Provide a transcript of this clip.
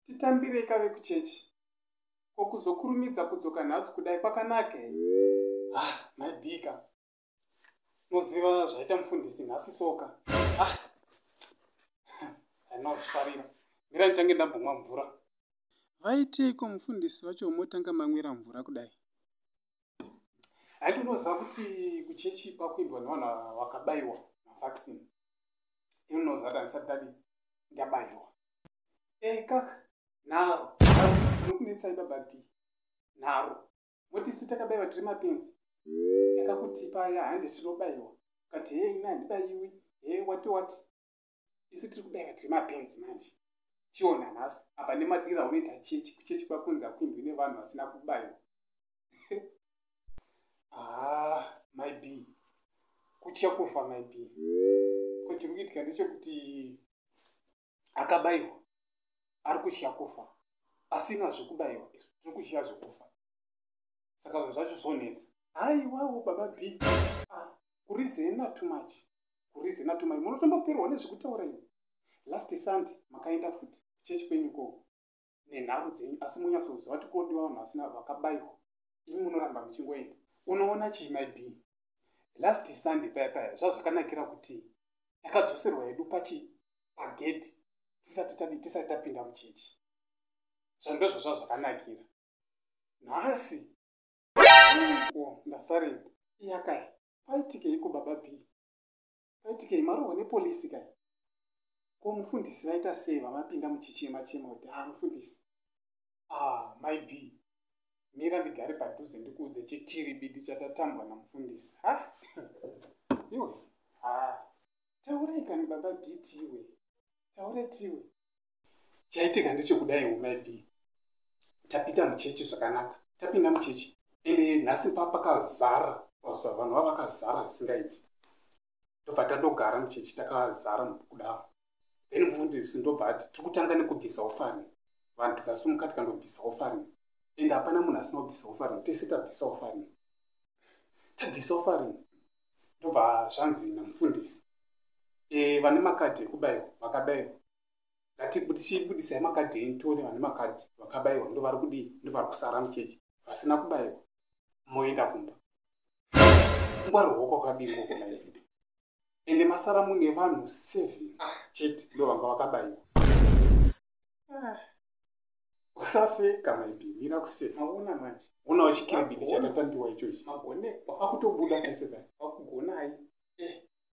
titambirei kave kuchechi ko kuzokurumidza kudzoka nhasi kudai kwakanaka here ah maibika noziva zvaita mufundisi nhasi soka ah anofarira mira nditange ndambomwa mvura vaiteiko mufundisi vacho motanga mamwira mvura kudai haiti unoziva kuti kuchechi kwakuendwa nevanhu vakabayiwa mavaccine inonoziva kuti handisati dadi ndabayiwa e eh, kaka naro anokunetsai baba d naro moti isu takabayiwa tiri mapenzi takakutipa ya hande tinobayiwa kati hei ina handibayiwi he wati wati isu tiri kudanga tiri mapenzi manje chiona nhasi apa nemadira unoita chechi kuchechi kwakunzi akuindwi nevanhu vasina kubayiwa ah my b kutya kufa my b ko chiri kuitika ndechekuti akabayiwa ari kutya kufa asina zvekubayiwa isu tiri kutya zvekufa saka zvinhu zvacho zvonetsa haiwawo baba b ah, kurizena too much kurize natumai munotomboperwa nezvekutaura ini last sunday makaenda futi kuchechi kwenyu koo nenharo dzenyu asi munyatsoziva kuti kodiwa vanhu vasina vakabayiwa imi munoramba muchingoenda unoona chii myb last sunday paya paya zvazvakanakira kuti takadzoserwa yedu pachi pagedhi tisati tadi tisati tapinda muchechi zvando zvazva zvakanakira nhasi ndasarei iyakaya paitikeiko baba b paitikei marohwa nepolisi kai ko mufundisi vaita sei vamapinda muchichema chema kuti a ah, mufundisi a ah, mai b mira ndigare padhuze ndikuudze chikiribidi chatatambwa namufundisi ha iwe ha taurai kani baba b tiwe taurai tiwe chaitika ndechekudaiwo mai b tapinda muchechi zvakanaka tapinda muchechi ende nhasi pa pakazara pazuva vanhu va vakazara zvisingaiti ndobva tadogara muchechi takazara kudaro then mufundisi ndobva ati tiri kutanga nekubvisa ofari vanhu tikasumuka tikandobvisa ofari ende hapana munhu asina kubvisa ofari tese tabvisa ofari tabvisa ofari ndobva zvanzi namufundisi e, vane makadhi ekubayiwa vakabayiwa ngati tichibudisai makadhi enyu tione vane makadhi vakabaiwa ndovari kudii ndovari kusara muchechi vasina kubaiwa moenda kumba ngwarirwo kwakadii kokona ii ende masara mune vanhu seven chete ndo vanga vakabaiwa ah. usaseka maibi mira kuseka aona manje unawo chikiribidi chatatandiwa ichochi akutobuda tese dai akugonai eh.